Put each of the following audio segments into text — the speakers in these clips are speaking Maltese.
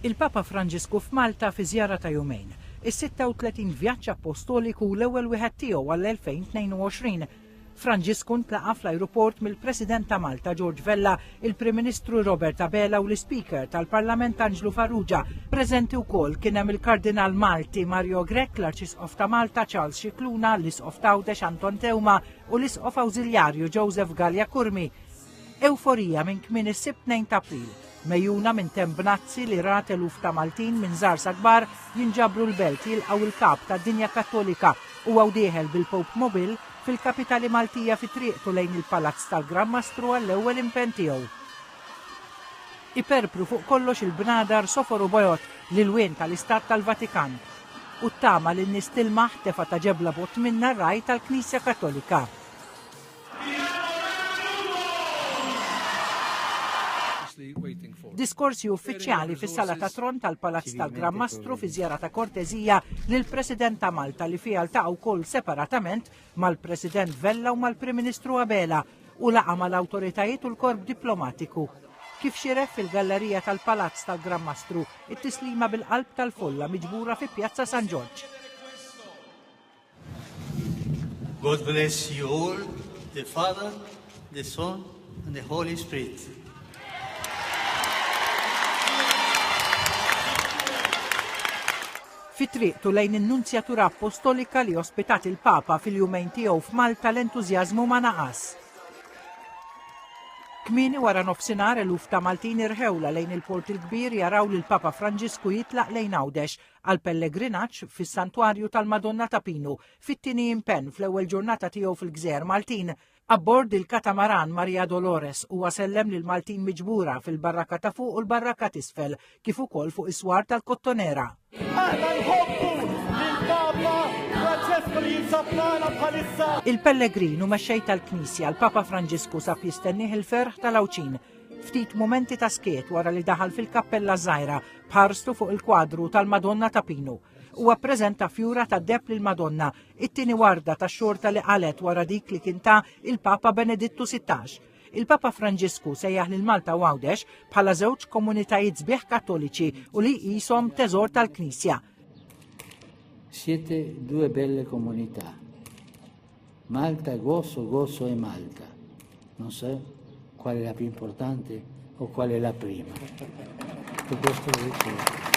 Il-Papa Franġisku f'Malta fi żjara ta' jumejn, is-36 vjaġġ appostoliku u l-ewwel wieħed tiegħu għall-2022. Franġisku ntlaqa' fl-ajruport mill-President ta' Malta George Vella, il-Prim Ministru Robert Abela u l-Ispeaker tal-Parlament Anġlu Farrugia. Preżenti wkoll kien hemm il-Kardinal Malti Mario Grech, l-Arċisqof ta' Malta Charles Scicluna, l-Isqof t'Għawdex Anton Teuma u l-Isqof Awżiljarju Joseph Galea Curmi. Ewforija minn kmieni s-Sibt 2 t'April, megħjuna minn Temp Bnazzi li rat eluf ta' Maltin minn żgħar sa kbar jinġabru l-Belt jilqgħu l-Kap tad-Dinja Kattolika u hawn dieħel bil-Pope Mobil fil-Kapitali Maltija fi triqtu lejn il-Palazz tal-Gran Mastru għall-ewwel impenn tiegħu. Iperpru fuq kollox il-bnadar sofor u bojod, l-ilwien tal-Istat tal-Vatikan, u t-tama li n-nies tilmaħ, tefa ta' ġebla bogħod minnha r-ragħaj tal-Knisja Kattolika. Diskorsi uffiċjali fis-sala ta' tron tal-Palazz tal-Gran Mastru fi żjara ta' korteżija lill-President ta' Malta li fiha ltaqa' wkoll separatament mal-President Vella u mal-Prim Ministru Abela u laqa' mal-awtoritajiet u l-korp diplomatiku. Kif xieref fil-gallerija tal-Palazz tal-Gran Mastru, it-tislima bil-qalb tal-folla miġbura fi Pjazza San Ġorġ. God bless you all, the Father, the Son, and the Holy Spirit. fi triqtu lejn in-Nunzjatura Appostolika li ospitat il-Papa fil-jumejn tiegħu f'Malta l-entużjażmu ma naqas. Kmini wara nofsinhar eluf ta' Maltin irħewla lejn il-Port il-Kbir jaraw lil Papa Franġisku jitlaq lejn Għawdex għal pellegrinaġġ fis-Santwarju tal-Madonna ta' Pinu fit-tieni impenn fl-ewwel ġurnata tiegħu fil-Gżejjer Maltin. Abbord il-katamaran Maria Dolores huwa sellem lil Maltin miġbura fil-barraka ta' fuq u l-barraka t'isfel kif ukoll fuq is-swar tal-Kottonera. Aħna nħobbu lill-Papa Francesku li jinsab magħna bħalissa. Il-pellegrin u mexxej tal-Knisja l-Papa Franġisku sab jistennih il-ferħ tal-Għawdxin Ftit mumenti ta' skiet wara li daħal fil-kappella żgħira b'ħarstu fuq il-kwadru tal-Madonna ta' Pinu. Huwa ppreżenta fjura ta' deb lil Madonna, it-tieni warda ta' xorta li qalgħet wara dik li kien ta il-Papa Benedittu 16. Il-Papa Franġisku sejjaħ lil Malta u Għawdex bħala żewġ komunitajiet sbieħ Kattoliċi u li jqishom teżor tal-Knisja. Siete due belle comunità. Malta gozo gozo e Malta. Non so qual è la più importante o qual è la prima. E questo lo dicevo.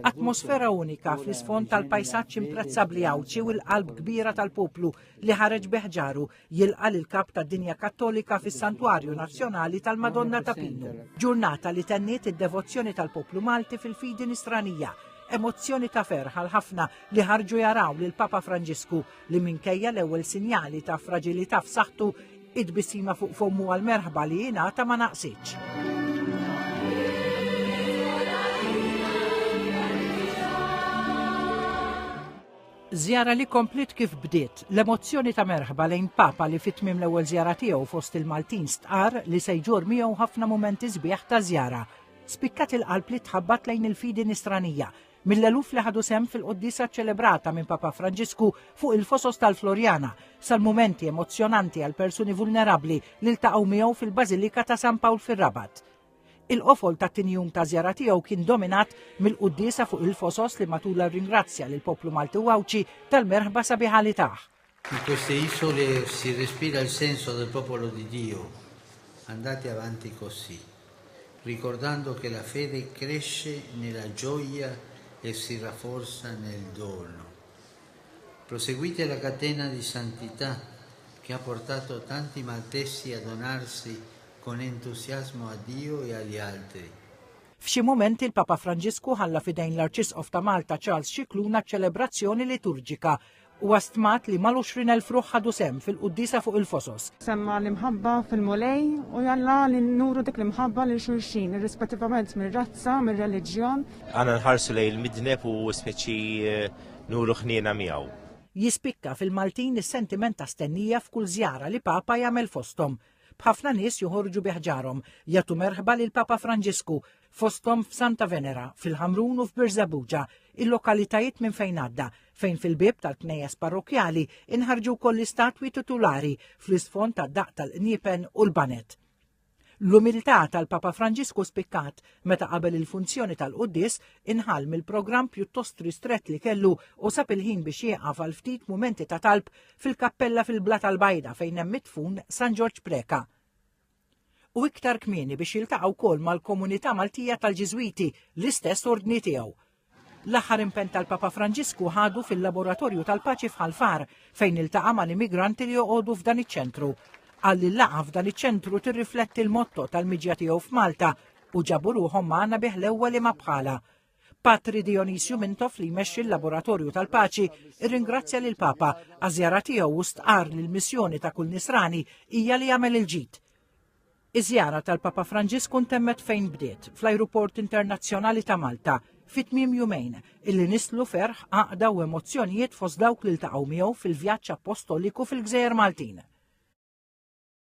Atmosfera unika fl-isfond tal-pajsaġġ imprezzabbli Għawdxi u l-qalb kbira tal-poplu li ħareġ beħġaru jilqa' lill-Kap tad-Dinja Kattolika fis-Santwarju Nazzjonali tal-Madonna ta' Pinu, ġurnata li tenniet id-devozzjoni tal-poplu Malti fil-fidi Nisranija, emozzjoni ta' ferħ għal ħafna li ħarġu jaraw lill-Papa Franġisku li minkejja l-ewwel sinjali ta' fraġilità f'saħħtu, it-tbissima fuq fommu għall-merħba li jingħata ma naqsitx. Żjara li kompliet kif bdiet, l-emozzjoni ta' merħba lejn Papa li fi tmiem l-ewwel żjara tiegħu fost il-Maltin stqarr li se jġorr miegħu ħafna mumenti sbieħ ta' żjara, spikkat il-qalb li tħabbat lejn il-fidi Nisranija mill-eluf li ħadu sehem fil-quddiesa ċċelebrata minn Papa Franġisku fuq il-Fosos tal-Floriana, sal-mumenti emozzjonanti għall-persuni vulnerabbli li ltaqgħu miegħu fil-Bażilika ta' San Pawl fir-Rabat. Il-qofol tat-tieni jum ta' żjara tiegħu kien dominat mill-quddiesa fuq il-fosos li matulha rringrazzja lill-poplu Malti u Għawdxi tal-merħba sabiħa li tah. In queste isole si respira il senso del popolo di Dio, andate avanti cossì, ricordando che la fede cresce nella gioia e si rafforza nel dono. Proseguite la catena di santità che ha portato tanti maltesi a donarsi Con entusiasmo a Dio e agli altri. F'xi mumenti l-Papa Franġisku ħalla f'idejn l-Arċisqof ta' Malta Charles Scicluna ċ-ċelebrazzjoni liturġika. Huwa stmat li mal-għuxrin elf ruħ ħadu sehem fil-quddiesa fuq il-Fosos. Semma l-imħabba fil-Mulej u jalla li nuru dik l-imħabba lil xulxin, irrispettivament mir-razza, mir-reliġjon. Għandna nħarsu lejn il-midneb u spiċċi nuru ħniena miegħu. Jispikka fil-Maltin is-sentiment ta' stennija f'kull żjara li Papa jagħmel fosthom. b'ħafna nies joħorġu bi ħġarhom jagħtu merħba lil Papa Franġisku fosthom f'Santa Venera, fil-Ħamrun u f'Birżebbuġa, il-lokalitajiet minn fejn għadda, fejn fil-bieb tal-knejjes parrokkjali inħarġu wkoll l-istatwi titulari fl-isfond tad-daqq tal-qniepen u l-banet. L-umiltà tal-Papa Franġisku spikkat meta qabel il-funzjoni tal-Quddis inħall mill-programm pjuttost ristret li kellu u sab il-ħin biex jieqaf għal ftit mumenti ta' talb fil-kappella fil-Blata l-Bajda fejn hemm mitfun San Ġorġ Preca. U iktar kmieni biex jiltaqgħu wkoll mal-komunità Maltija tal-Ġiżwiti, l-istess ordni tiegħu. L-aħħar impenn tal-Papa Franġisku ħadu fil-Laboratorju tal-Paċi f'Ħalfar fejn iltaqa' mal-immigranti li joqogħdu f'dan iċ-ċentru. Qal li l-laqgħa f'dan iċ-ċentru tirrifletti l-motto tal-miġja tiegħu f'Malta u ġabu ruħhom magħna bih l-ewwel imma bħala. Patri Dionisju Mintoff li jmexxi l-Laboratorju tal-Paċi irringrazzja lil Papa għażjara tiegħu u stqar li l-missjoni ta' kull Nisrani hija li jagħmel il-ġid. Iż-żjara tal-Papa Franġisku ntemmet fejn bdiet, fl-Ajruport Internazzjonali ta' Malta, fi tmiem jumejn, illi nislu ferħ, għaqda u emozzjonijiet fost dawk li ltaqgħu miegħu fil-vjaġġ appostoliku fil-gżejjer Maltin.